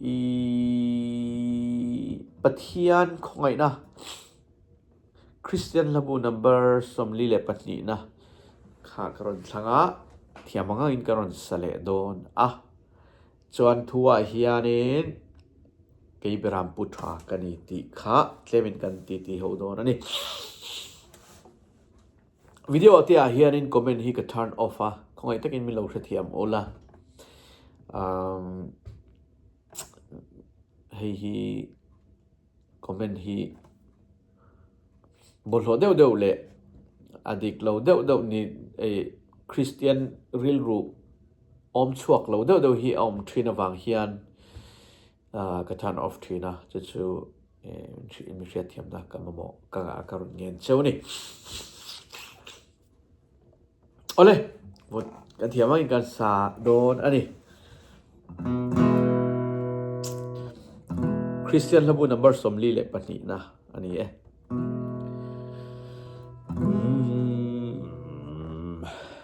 i pathian khawngaihna christian hlabu number sawmli leh pahnihna kha ka rawn thlang a thiam ang angin ka rawn sa leh dawn a chuan thu ah hianin kei beram pu tha ka ni tih kha tlemin kan titi ho dawn a ni Video a tihah hianin comment hi ka turn off a, khawngaih takin min lo hrethiam awl a. Umm hei hi comment hi bawlhhlawh deuh deuh leh a dik lo deuh deuh ni ei Kristian rilru awm chhuak lo deuh deuh hi a awm thin avang hian ka turn off thin a, chu chu I mi hriatthiamna ka mamawh ka ngah a ka run ngen cheu ni. Awle! Vawt kan thiam angin kan sa dawn a ni. Christian hlabu number sawmli leh pahnihna a ni e.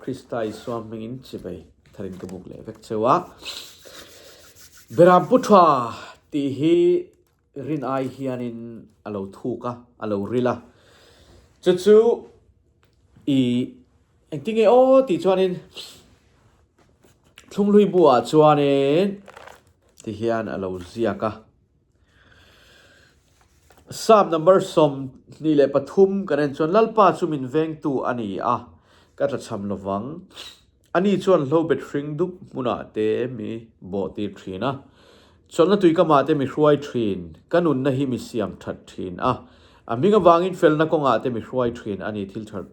Krista Isua hmingin chivei tharin ka buk leh vek cheu a. Beram pu tha tih hi rin ai hianin a lo thuk a, a lo ril a. Chu chu i engti nge aw tih chuanin thlunghlui buah chuanin ti hian a lo ziak a. Psalm number sawm hnih leh pathum kan en chuan Lalpa chu min vengtu a ni a, ka tla chham lo vang. Ani chuan hlo bet hring dup hmunah te mi bawh tir thin a, chawlhna tui ka mah te mi hruai thin, ka nunna hi mi siam that thin a, a hming avangin felna kawngah te mi hruai thin a ni. Thil tha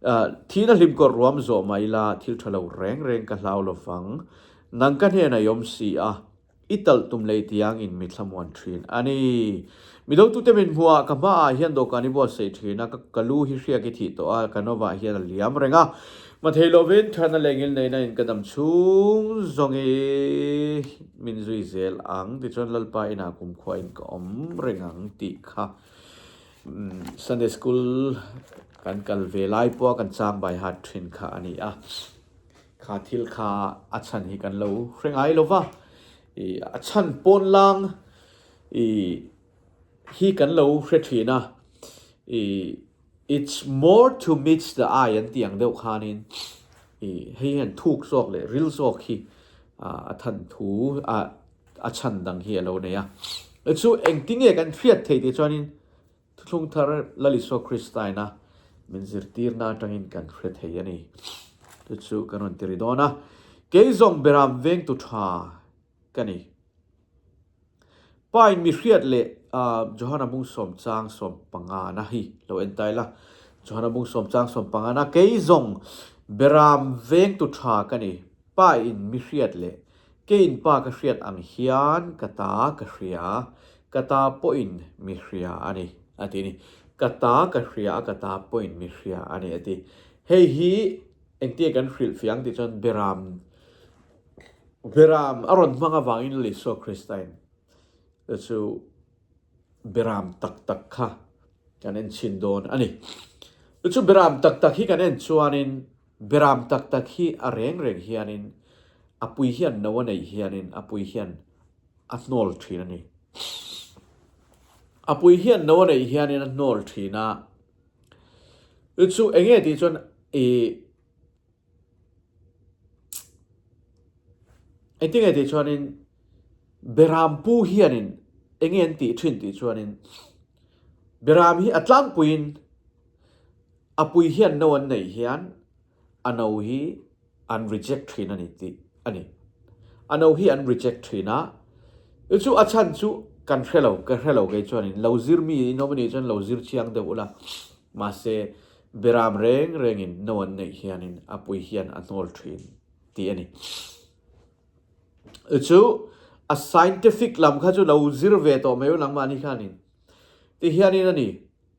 ah thihna hlim kawr ruam zawh mai la, thil tha lo reng reng ka hlau lo vang. Nang ka hnenah i awm si a, I talh tum lei tiang in mitthla muan thin a ni. Mi do tute min hmu a, ka hma ah hian dawhkan i buat saih thin a, ka lu hi hriak i thih tawh a, ka no vah hian a liam reng a. Hma thei lo vin tharna leh ngil neina in ka dam chhung zawng i min zui zel ang tichuan Lalpa inah kumkhua in ka awm reng ang tih kha Sunday School kan kal ve lai pawh a kan chang bai hat thin kha a ni a. Kha thil kha a chhan hi kan lo hre ngai lo va, i a chhan pawn lang i hi kan lo hre thin a, i it's more to meets the eye an tih ang deuh khanin i hei hian thuk zawk leh ril zawk hi a than thu a chhan dang hi a lo nei a. Chu engtinge kan hriat theih tih chuanin Thuthlung thar Lalisua Kristaina min zirtirna atangin kan hre thei a ni. Chu chu kan rawn ti ri dawn a, kei zawng berah vengtu tha ka ni. Pain mihriat leh Johana Bungsawm Chang Sawm Pangana hi lo en tai la, Johana Bungsawm Chang Sawm Pangana kei zawng berah vengtu tha ka ni. Pa in mi hriat leh ke in pa ka hriat ang hian ka ta ka hria, ka ta pawhin mi hria a ni, a ti a ni. Ka ta ka hria a, ka ta pawhin mi hria a ni, a ti. Hei hi engtiaih kan hrilh fiah ang tih chuan Beram, Beram a rawn hmang avangin Leh Isua Krista in te chu Beram tak tak kha kan en chhin dawn a ni. Chu Beram tak tak hi kan en chuanin, Beram tak tak hi a reng reng hianin a pui hian no a neih hianin a pui hian a hnawl thin a ni. A pui hian no a neih hianin a hnawl thin a, ih chu eng nge tih chuan ih engti nge tih chuanin Beram pu hianin eng nge an tih thin tih chuanin Beram hi a tlangpuiin Apui hian no an nei hian a no hi an reject thin a ni tih a ni. A no hi an reject thin a, chu a chhan chu kan hre lo, ka hre lo kei chuan in lo zir mi nominee chuan lo zir chiang deuh ula, mahse Beram reng reng in no an neih hian in Apui hian a hnawl thin tih a ni. Chu a scientific lam kha chu lo zir ve tawh mai ulangmah ni khan in tih hian in a ni.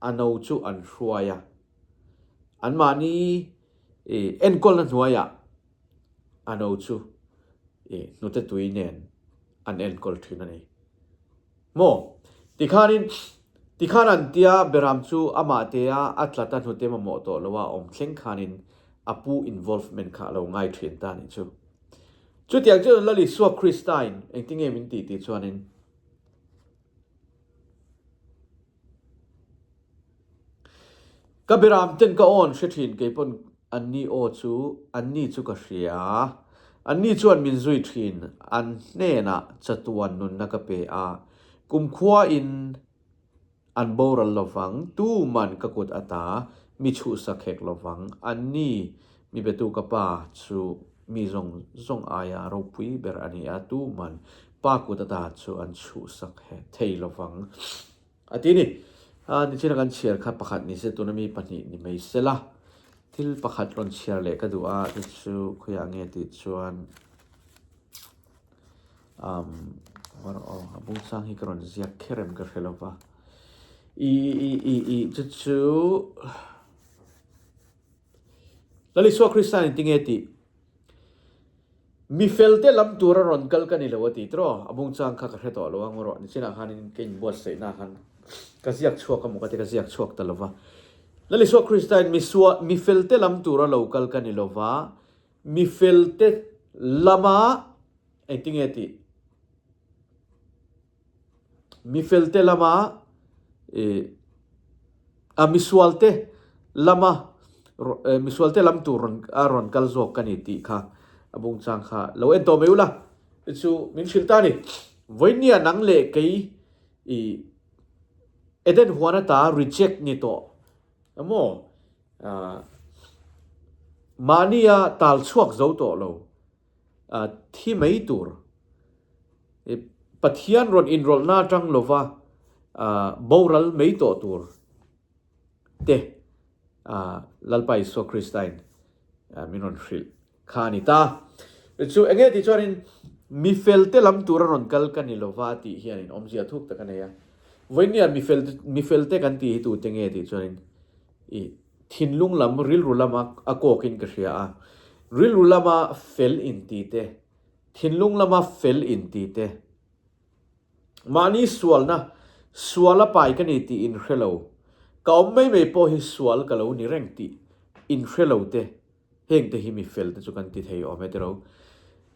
a no chu an hruai a, anmahni enkawlna hnuaiah a no chu hnute tui nen an enkawl thin a ni maw? Tikhanin tikhan an tia Behram chu amah tea a tlata hnute mamawh tawh lo a, awm thleng khanin a pu involvement kha a lo ngai thin ta a nih chu. Chutiang chuan Lalisua Krista-in engtinge min tih tih chuanin, Ka biram ten ka awn hre thin kei pawn an ni aw chu an ni chu ka hria. An ni chuan min zui thin an hnenah chatuan nunna ka pe a. Kumkhua in an boral lovang, tuman ka kut ata, mi chuhsak hek lovang. An ni Mi biatu ka pa chu mi zawng zawng aia ropui ber a ni a, tu man pa kut ata chu an chhuhsak he thei lo vang a ti ni. A ni thlina kan chhiar kha pakhat ni se tuna mi pahnih ni mai se la, thil pakhat rawn chhiar leh ka duh a, te chu khawiah nge tih chuan umm hawr a aw a bung chang hi ka rawn ziak kher em ka hre lo va, ih ih ih ih chu chu. Lal Isua Krista nen ti nge tih? Mi felte lam tur a rawn kal ka ni lo a ti tiraw? A bungchang kha ka hre tawh lo a, ngaw rawh, nichinah khanin ka inbuatsaihnaah khan ka ziak chhuak a maw ka ti, ka ziak chhuak ta lo va. Lal Isua Kristain misua, mi felte lam tur a lo kal ka ni lo va, mi felte lamah engti nge tih? Mifelte lama a misualte lama misualte lam tur a rawn kal zawk ka ni tih kha a bungchang kha lo en tawh mai ula i chu min hrilh ta ni. Vawinia nang leh kei i Eden huan ata reject ni tawh emaw mahnia tal chhuak zo tawh lo. A thi mai tur i Pathian rawn inrawlhna atang lova boral mai tawh tur te Lalpa Isua Kristain min rawn hrilh kha a ni ta. Chu enge tih chuanin mi felte lam tura rawn kal ka ni lova tih hianin awmzia thuk tak a nei a. Vawiin nia mi felte kan tih hi tute nge tih chuanin i. Thinlung lam rilru lama a kawkin ka hria a, rilru lama fel in ti te, thinlung lama fel in ti te. Mahni sualna, sual a pai ka ni tih in hre lo, ka awm mai mai pawh hi sual ka lo ni reng tih in hre lo te, heng te hi mi fel te chu kan ti thei awm e tiro.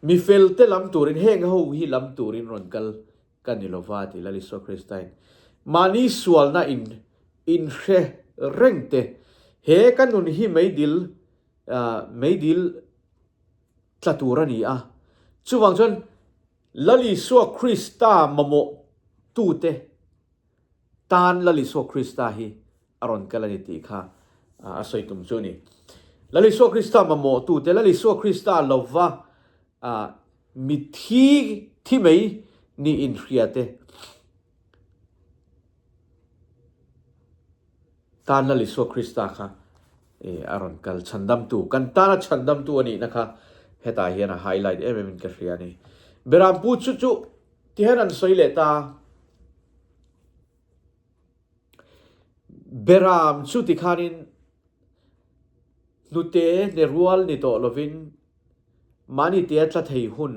Mi fel te lam turin heng ho hi lam turin rawn kal ka ni lo va, ti lal Isua Kristain mahni sualna in in hre reng te he ka nun hi meidil meidil tla tur a ni a. Chuvang chuan lal Isua Krista mamawh tu te, Tan Lalisua Krista hi a rawn kal a ni tih kha a sawi tum chu a ni. Lalisua Krista mamawhtute, Lalisua Krista lova mithi thi mai ni inhria te, Tan Lalisua Krista kha a rawn kal, chhandamtu, kan tana chhandamtu a nihna kha hetah hian a highlight em emin ka hria a ni. Berampu chu chu Tihian an sawi leh ta, Beram chu tikhanin hnute hne rual ni tawh lovin mahni tia tla thei hun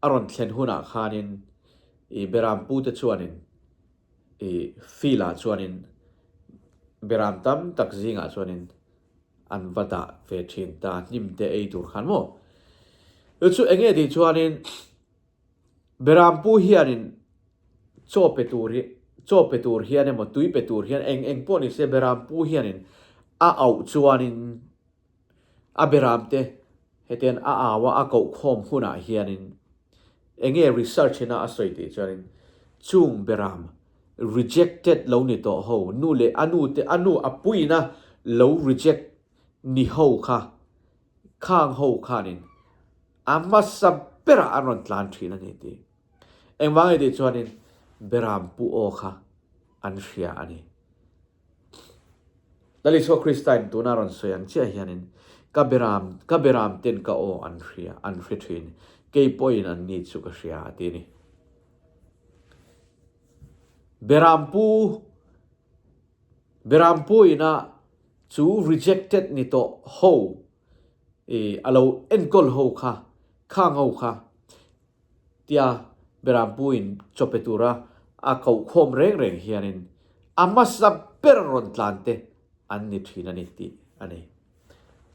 a rawn thlen hunah khanin i Beram pute chuanin i field ah chuanin Beram tam tak zingah chuanin an va dah ve thin ta, hnim te ei tur khan maw? Chu enge tih chuanin. Beram pu hianin chaw pe tur hi chaw pe tur hian emaw tui pe tur hian eng eng pawh ni se Beram pu hianin a auh chuanin a Beram te hetian a au a a koh khawm hunah hianin enge research ina a sawi tih chuanin chung Beram rejected lo ni tawh ho nu leh a nu te a nu a puina lo reject ni ho kha Khang ho khanin a hmasa berah an rawn tlan thin a ni tih. Engvang nge tih chuanin Beram Pu Aw kha an hria a ni. Lal Isua Krista in tuna rawn sawi ang chiah hianin ka Beram, ka Beram ten ka aw an hria, an hre thin. Kei pawhin an ni chu ka hria a ti a ni. Beram Pu. Beram Pu ina chu rejected ni tawh ho i a lo enkawl ho kha, khang ho kha tia Beram Pu in chawpe tura a kohkhawm reng reng hianin a hmasa ber rawn tlante an ni thin a ni tih a ni.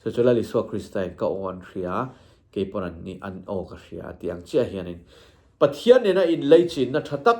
Chu chu Lal Isua Krista in ka aw an hria, kei pawn an nih an aw ka hria a tih ang chiah hianin Pathian nena inlei chinna tha tak,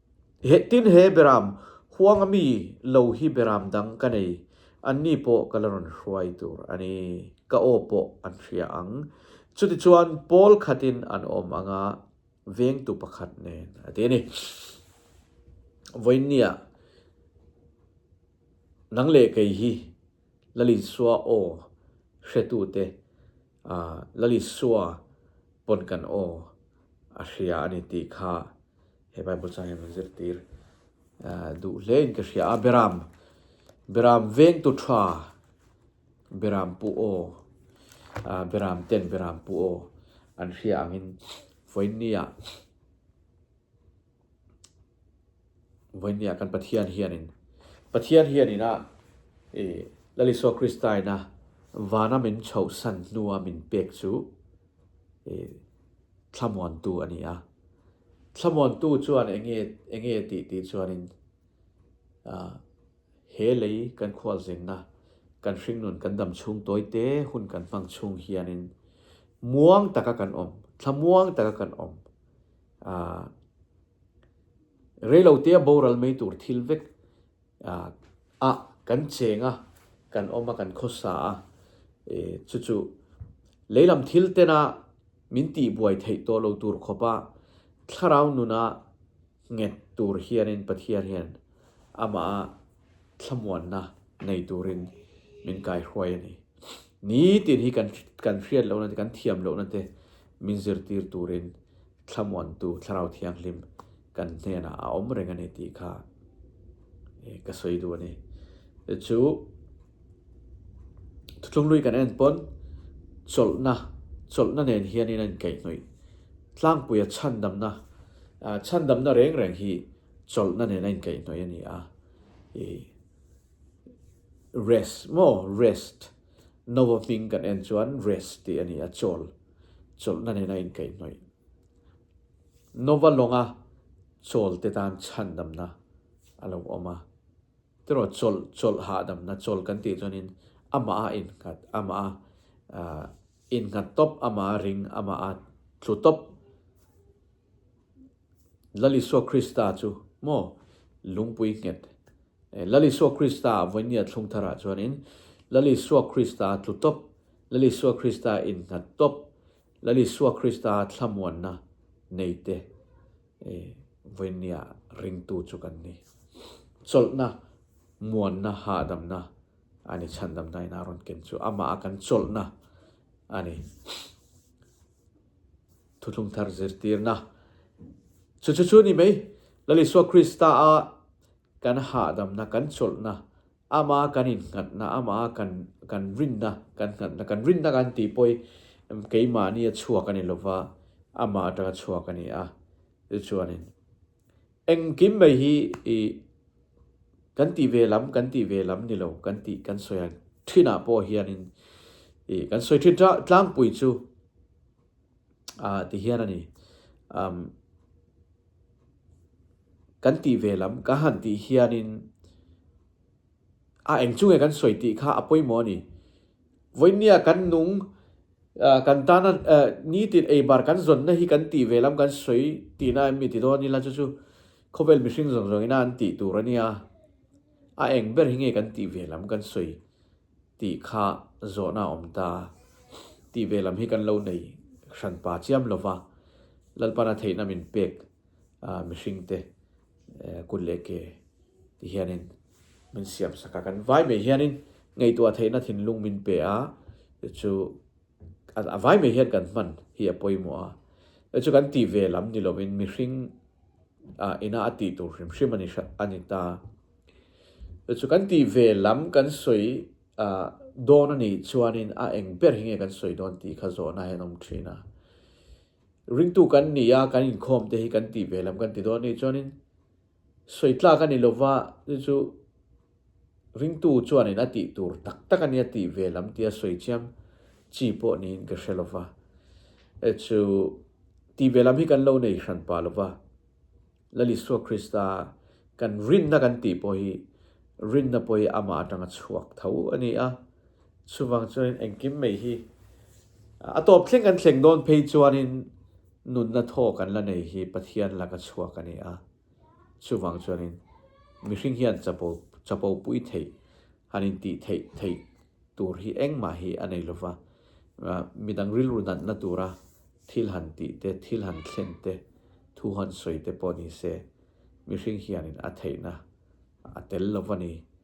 He tin he Beram huang ami lo hi Beram dang ka nei, an ni pawh ka la rawn hruai tur a ni, ka aw pawh an hria ang. Chutichuan Paul khatin an awm ang a, vengtu pakhat nen a ti a ni. Vawinia, nang leh kei hi Lalinsua aw hretute. A Lalisua pawn kan aw a hria a ni tih kha he Bible chang hian kan zirtir duh hlein ka hria a, Beram, Beram vengtu tha, Beram pu aw, Beram ten Beram pu aw an hria angin Foinnia. Vawinia kan Pathian hianin, Pathian hianin a i Lalisua Krista-ina vana min chhohsan hnua min pek chu i thlamuantu a ni a. Thlamuantu chuan enge enge tih tih chuanin a he lei kan khualzengna, kan hringnun kan dam chhung tawi te hun kan hmang chhung hianin muang taka kan awm, thlamuang taka kan awm. Ahh reilo te a boral mai tur thil vek ahh a kan cheng a, kan awm a, kan khawsa a. Ehh chu chu leilam thil tena min tihbuai theih tawh lo tur khawpa thlarau nuna nghet tur hianin Pathian hian amaha thlamuanna nei turin min kaihruai a ni. Nitin hi kan kan hriat lohna te, kan thiam lohna te min zirtir turin thlamuantu Thlarau Thianghlim kan hnenah a awm reng a ni tih kha ka sawi duh a ni. Chu thutlunglui kan en pawn chawlhna, chawlhna nen hianin a inkaihhnawih. Tlangpuia chhandamna, chhandamna reng reng hi Chawlhna nen a inkaih hnawih a ni a, i rest maw rest noa hming kan en chuan rest tih a ni a, chawl, chawlhna nen a inkaih hnawih. Noa lawnga chawl te tan chhan damna a lo awm a, tiraw chawlh, chawlh hahdamna, chawl kan tih chuanin amaha innghat, amaha innghat tawp, amaha ring, amaha tlu tawp. Lal Isua Krista chu maw lungpui nghet e? Lal Isua Krista a vawinia thlung tharah chuanin Lal Isua Krista tlu tawp, Lal Isua Krista innghat tawp, Lal Isua Krista thlamuanna nei te e vawinia ringtu chu kan ni. Chawlhna, muanna, hahdamna a ni, chhandamna in a rawn ken chu amaha kan chawlhna a ni. Thuthlung thar zirtirna chu chu chu ni mai. Lal Isua Krista a kan hahdamna, kan chawlhna, Amah a kan innghatna, Amah a kan kan rinna, kan nghatna, kan rinna kan tih pawh hi em keimahni a chhuak a ni lo va, Amah atanga chhuak a ni a. Chu chuanin engkim mai hi i kan tih ve lam, kan tih ve lam ni lo, kan tih kan sawi ang thinah pawh hianin i kan sawi thin ta tlangpui chu a ti hian a ni. Umm kan tih ve lam ka han tih hianin a eng chu nge kan sawi tih kha a pawimawh a ni. Vawinia kan nung ah kan tana eh nitin eibar kan zawnna hi kan tih ve lam kan sawi tihna em ni ti dawn ila chu chu khawvel mihring zawng zawng ina an tih tur a nia. A eng ber hi nge kan tih ve lam kan sawi tih kha zawhna a awm ta tih ve lam hi kan lo nei hran pa chiam lo va, Lalpana theihna min pek mihring te kut leh ke ti hian in min siam sak a, kan vai mai hian in ngaihtuah theihna thinlung min pe a, chu. a vai mai hian kan hman hi a pawimawh a, hei chu kan tih ve lam ni loin mihring a ina a tih tur hrim hrim a ni hrat a ni ta. Hei chu kan tih ve lam kan sawi dawn a nih chuanin a eng ber hi nge kan sawi dawn tih kha zawhna hian a awm thin a. Ringtu kan ni a, kan inkhawm te hi kan tih ve lam kan ti dawn a nih chuanin sawi tlak a ni lova, hei chu. Ringtu chuanin a tih tur tak tak a nia tih ve lam tia sawi chiang chi pawh niin ka hre lova. Hei chu tih ve lam hi kan lo nei hran pah lova. Lalisua Krista kan rinna kan tih pawh hi rinna pawh hi amah atanga chhuak tho a ni a. Chuvang chuanin engkim mai hi a tawp thleng kan thleng dawn phei chuanin nunna thaw kan la nei hi Pathian laka chhuak a ni a. Chuvang chuanin mihring hian chapo chapo pui theih han intih theih theih tur hi engmah hi a nei lova, midang rilru natna tura thil han tih te, thil han thlen te, thu han sawi te pawh nise mihring hianin a theihna a tel lova ni.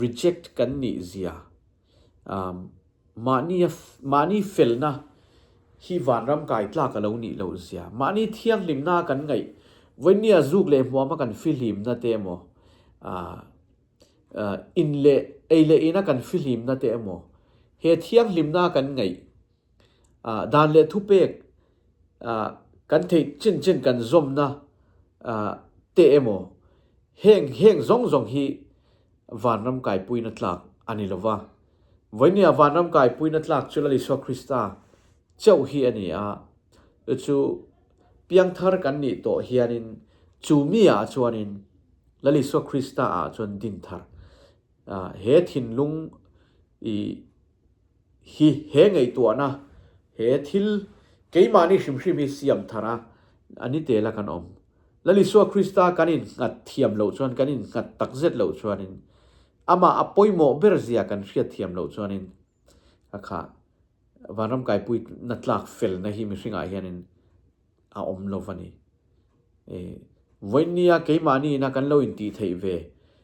reject kan nih zia umm mahni a mahni felna hi vanram kai tlak alo nih loh zia mahni thianghlimna a kan ngaih vawinia zuk leh hmuam a kan fihlimna te emaw umm umm in leh ei leh ina kan fihlimna te emaw he thianghlimna a kan ngaih dan leh thupek kan theih chin chin kan zawmna te emaw heng heng zawng zawng hi vanram kaipuina tlak a ni lova. Vawinia vanram kaipuina tlak chu Lal Isua Krista chauh hi a ni a, chu piangthar kan nih tawh hianin chumi ah chuanin Lal Isua Krista ah chuan din thar he thinlung i hi he ngaihtuahna, he thil keimahni hrimhrim hi siam thara a ni te la kan awm. Lal Isua Krista kan innghat thiam loh chuan, kan innghat takzet loh chuanin, Amah a pawimawh ber zia kan hriatthiam loh chuanin, hakha, Vanram Kaipui na tlak felna hi mihringah hianin, A awm lo va ni. E, vawinia keimahni ina kan lo intih theih ve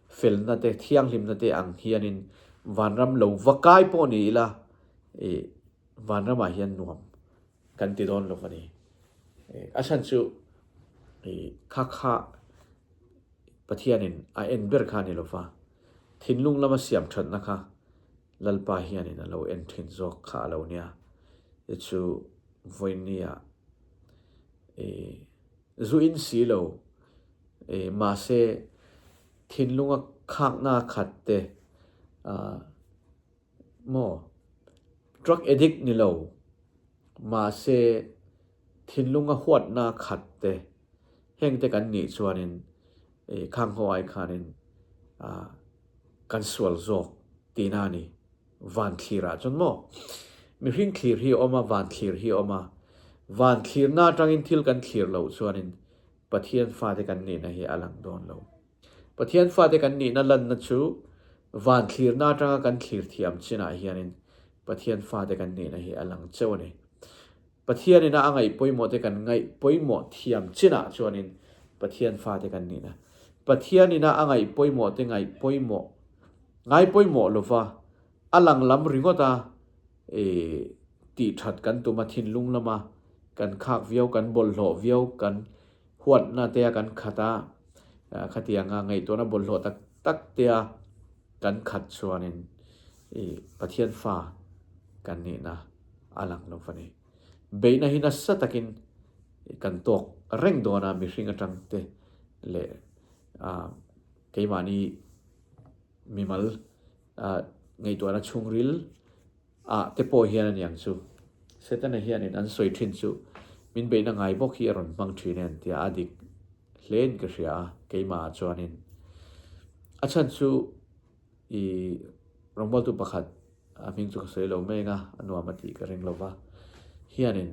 felna te, thianghlimna te ang hianin vanram lo va kai pawh ni ila, e, vanramah hian nuam kan ti dawn lo va ni. E, a chhan chu, e, kha kha Pathianin a en ber kha a ni lo va. Thinlung lama siamthatna kha Lalpa hianin a lo en thin zawk kha a lo nia, i chu Vawinia i zu in si lo, i mahse thinlunga khakna khat te a maw, drug addict ni lo, mahse thinlunga huatna khat te heng te kan nih chuanin i khangho ai khanin a. kan sual zawk tiin a ni. Vanthlir ah chuan maw mihring thlir hi a awm a, vanthlir hi a awm a, vanthlirna atangin thil kan thlir loh chuanin Pathian fate kan nihna hi a lang dawn lo. Pathian fate kan nihna lanna chu vanthlirna atanga kan thlir thiam chinah hianin Pathian fate kan nihna hi a lang chauh a ni. Pathian ina a ngaihpawimawhte kan ngaihpawimawh thiam chinah chuanin Pathian fate kan nih la. Pathian ina a ngaihpawimawhte ngaihpawimawh, ngaipawimawh lova, a lang lam ringawta tih that kan tum a, thinlung lama kan khak viau, kan bawlhhlawh viau, kan huatna tea kan khat a, khatianga ngaihtuahna bawlhhlawh tak tak tea kan khat chuanin i Pathian fa kan nihna a lang lo va ni. Beihna hi nasa takin kan tawk reng dawn a, mihring atangte leh keimahni mimal ngaihtuahna chhungril, Ah te pawh hian a niang chu. Setana hian in an sawi thin chu min beihna ngai bawk hi a rawn hmang thin en tia a dik hle in ka hria a, keimahah chuan in a chhan chu i rawngbaltu pakhat a hming chu ka sawi lo meng a, a nuam a tih ka ring lo va, hian in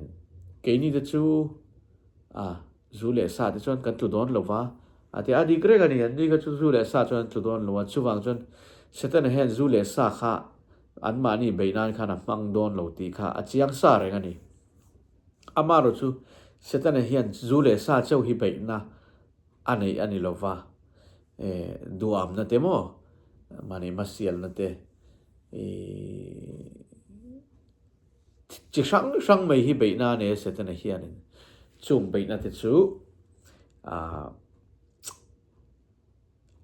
keini te chu a zu leh sa te chuan kan tlu dawn lo va a tia a dik reng a ni, an ni kha chu zu leh sa chuan an tlu dawn lo a, chuvang chuan Setana hian zu leh sa kha An mahni bei nan khan a hmang dawn lo tih kha a chiang sa reng a ni. Amaherawh chu Setana hian zu leh sa cheu hi beihna a neih a ni lo va, e, duhawmna te maw, mahni hmasialna te, e, chi hrang hrang mai hi beihna a nei a Setana hianin. Chung beihna te chu, a,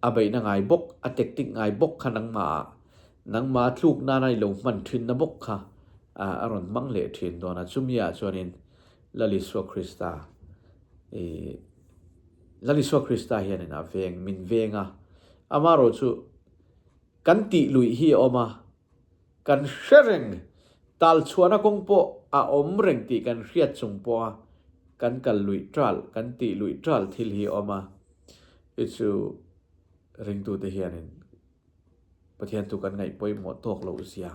A beihna ngai bawk, a tek tik ngai bawk kha nangmaah, nangma tluk nana i lo hman thinna bawk kha a rawn hmang leh thin dawn a. Chumiah chuanin Lal Isua Krista i, Lal Isua Krista hianin a veng, min veng a. Amaherawhchu kan tih luih hi a awm a. Kan hre reng, tal chhuahna kawng pawh a awm reng tih kan hriat chung pawh a, kan kal luih tal, kan tih luih tal thil hi a awm a. Hi chu ringtute hianin Pathian thu kan ngaih pawimawh tawk lo zia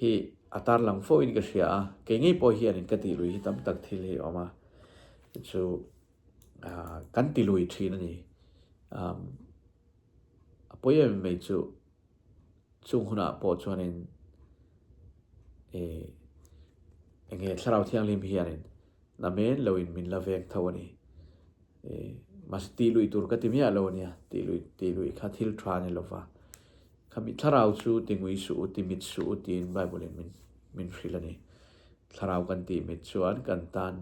hi a tarlang fawhin ka hria a, kei ngei pawh hianin ka tih luih hi tam tak thil hi a awm a. Hi chu kan ti lui thin a ni. A pawi em em mai chu. Chung hunah pawh chuanin eh, eng nge Thlarau Thianghlim hianin na men loin min la veng tho a ni. Eh, mahse tih luih tur ka ti miah lo ania, tih luih, tih luih kha thil tha a ni lova. Kha mi Thlarau chu ti ngui suh u, ti mit suh u tiin Bible-in min, min hrilh a ni. Thlarau kan tih mit chuan kan tan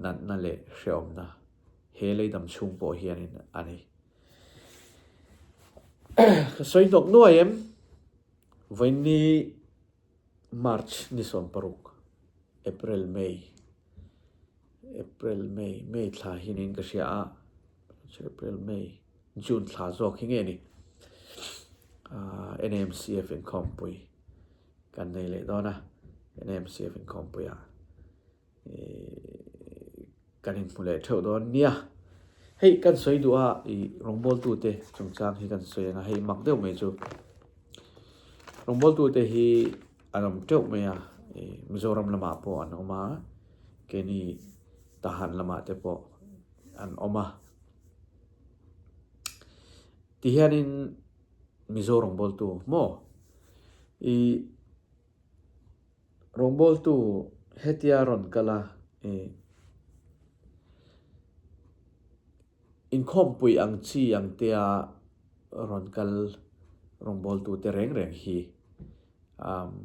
natna leh hrehawmna he leidam chhung pawh hianin a ni. Ka sawi nawk nuai em? Vawiinni March ni sawm paruk, April, May, April, May, May thla hi niin ka hria a, April, May, June thla zawk hi nge ni? NAMCF inkhawmpui kan nei leh dawn a, NAMCF inkhawmpuiah. kan in hmu leh theuh dawn nia hei kan sawi duh a i rawngbawl tu te chung chang hi kan sawi anga hei mak deuh mai chu rawngbawl tu te hi an awm teuh mai a i mizoram lamah pawh an awm a kei ni tahan lamah te pawh an awm a ti hian in mizo rawngbawl tu maw i Rawngbawltu hetia rawn kal a, Ih, inkhawmpui ang chi ang tia rawn kal rawngbawltute reng reng hi umm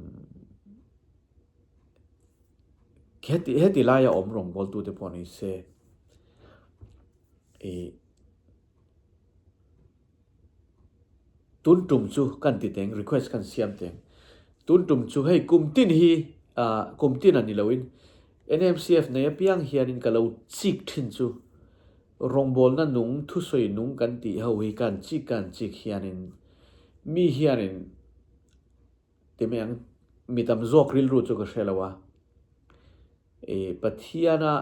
heti heti laia awm rawngbawltute pawh ni se. Ih. tun tum chu kan ti teng request kan siam teng tun tum chu hei kum tin hi ah kum tin a ni lo in NMCF nei apiang hian in ka lo chik thin chu rawngbawlna nung thusawi nung kan tih ho hi kan chik kan chik hian in mi hian in ti mai ang mi tam zawk rilru chu ka hre lo a e pathiana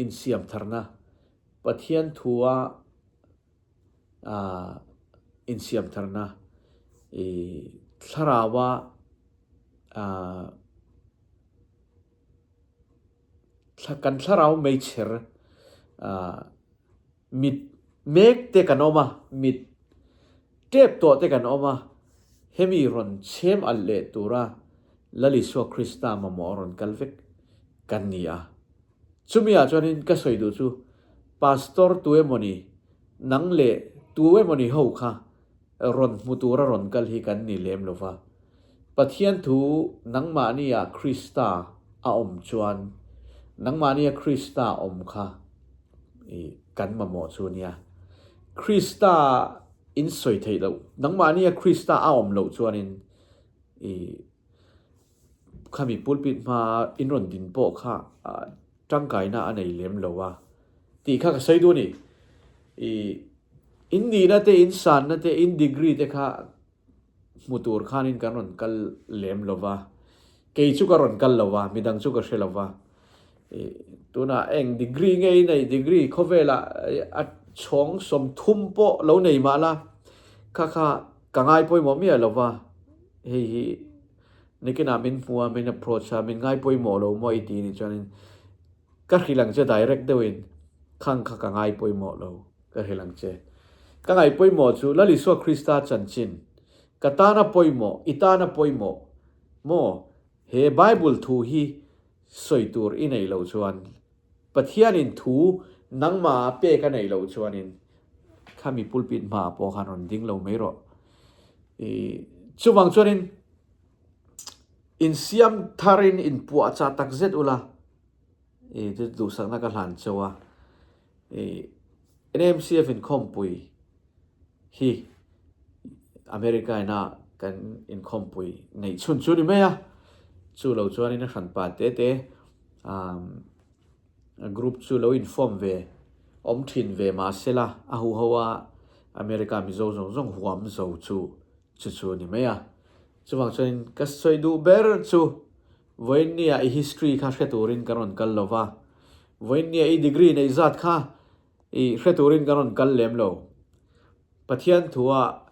insiam tharna Pathian thu a insiamtharna, i thlarau a kan thlarau meichher mit mek te kan awm a, mit Tep tawh te kan awm a, hemi rawn chhem alh leh tura Lalisua Krista mamawh a rawn kal vek kan ni a. Chumi ah chuan in ka sawi duh chu, Pastor tu emaw ni, nang leh tu emaw ni ho kha rawn hmu tura rawn kal hi kan ni lem lo va. Pathian thu nangmahnia Krista a awm chuan nangmahnia Krista awm kha i kan mamawh chu ania. Krista in sawi theih loh, nangmahnia Krista a awm loh chuanin i khami pulpit hma in rawn din pawh kha tangkaina a nei lem lo a tih kha ka sawi duh a ni. I in nihna te, in sanna te, in degree te kha hmu tur khanin kan rawn kal lem lo va, kei chu ka rawn kal lo va, midang chu ka hre lo va. Tunah eng degree ngei nei, degree khawvela a chhawng sawmthum pawh lo nei mah la, kha kha ka ngai pawimawh miah lo va, hei hi nikinah min hmu a, min approach a, min ngai pawimawh lo maw i ti ni chuanin, Ka hrilh ang che direct deuh in khang kha ka ngai pawimawh lo ka hrilh ang che. Ka ngaih pawimawh chu Lal Isua Krista chanchin ka tan a pawimawh i tan a pawimawh maw? He Bible thu hi sawi tur i nei lo chuan Pathian in thu nangma a pek a nei lo chuan in khami pulpit hma ah pawh han rawn ding lo mai rawh i chuvang chuan in insiam tharin inpuah chah takzet ula i chu duhsakna ka hlan cheu a i NMCF in khawmpui hi America ina kan in khawmpui ngeih chhun chu ni mai a chu lo chuan in a hran pa te te group chu lo inform ve awm thin ve mahse la a hu hoa America mizo zawng zawng huam zo chu Chu chu a ni mai a. Chuvang chuanin ka sawi duh ber chu Vawinia i history kha hre turin ka rawn kal lo va. Vawinia i degree neih zat kha i hre turin ka rawn kal lem lo. Pathian thua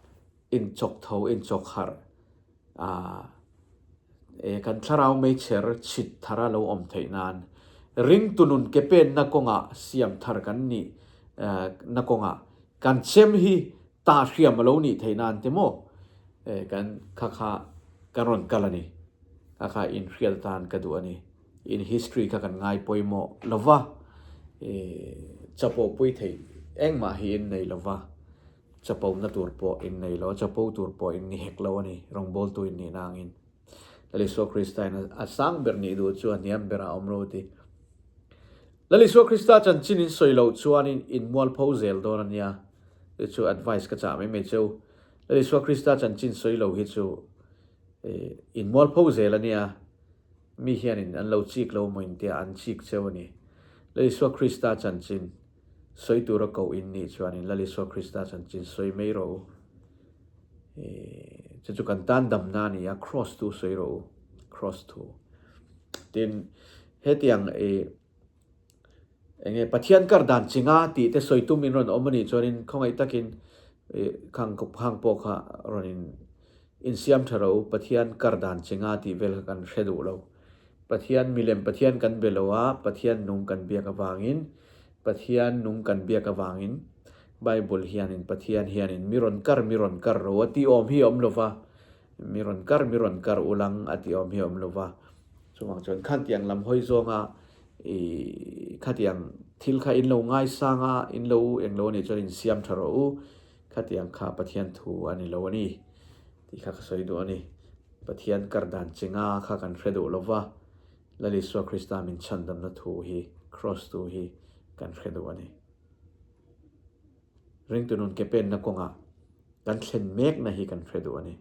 inchawk tho inchawk harh ah kan thlarau meichher chhit thar a lo awm theih nan ring tunun ke penna kawngah siam thar kan nih na kawngah Kan chem hi ta hriam a lo nih theih nan te maw? Eh, kan kha kha kan rawn kal a ni. Kha kha in hrial tan ka duh a ni. In history kha kan ngai pawimawh lo va. Eh, chapo pui theih engmah hi in nei lo va. Chapo na tur pawh in nei lo a, chapo tur pawh in ni hek lo a ni, rawngbawltu in nihna angin. Lalisua Christa-in a sang ber nih duh chu a hniam berah a awm roti. Lal Isua Krista chanchin in sawi loh chuanin in mualpho zel dawn ania. Chu chu advice ka chah mai mai chu. Lal Isua Krista chanchin sawi lo hi chu in mualpho zel ania. Mi hianin an lo chik lo maw intia an chik cheu a ni. Lal Isua Krista chanchin sawi tura koh in nih chuanin Lal Isua Krista chanchin sawi mai rawh u. Chu chu kan tan damna a nia, Cross tu sawi rawh u. Cross thu. Tin Hetiang ih eng nge Pathian kar dan ching a tih te sawi tum in rawn awm anih chuanin khawngaih takin khang pawh kha rawn in siam tha rawh u, Pathian kar dan ching a tih vel kha kan hre duh lo. Pathian milem Pathian kan be lo a, Pathian nung kan biak avangin, Pathian nung kan biak avangin Bible hianin Pathian hianin mi rawn kar mi rawn kar rawh a ti awm hi a awm lo va, Mi rawn kar, mi rawn kar u lang a ti awm hi a awm lova. Chuvang chuan khatiang lam hawi zawnga ih khatiang thil kha in lo ngai sang a, in lo eng lo a nih chuan in siam tha rawh u, khatiang kha Pathian thu a ni lo a ni tih kha ka sawi duh a ni. Pathian kar dan chinga kha kan hre duh lova, Lal Isua Krista min chhandamna thu hi, Kraws tu hi kan hre duh a ni. Ringtui nun ke penna kawnga kan thlen mekna hi kan hre duh a ni.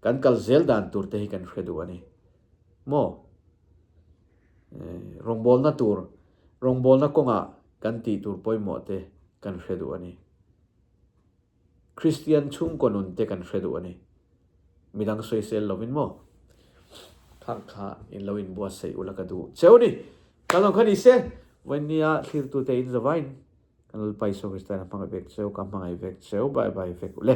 Kan kal zel dan tur te hi kan hre duh a ni. Maw? Rawngbawlna tur, rawngbawlna kawnga kan tih tur pawimawh te kan hre duh a ni. Kristian chhungkaw nun te kan hre duh a ni. Midang sawi sel lovin maw? Khang kha in lo inbuatsaih ula ka duh cheu a ni. Kal zawng kha ni se, vawinia thlir tute in zavain. Ka nalpa Isua Kristain a hmangaih vek cheu, ka hmangaih vek cheu bai bai vek u le.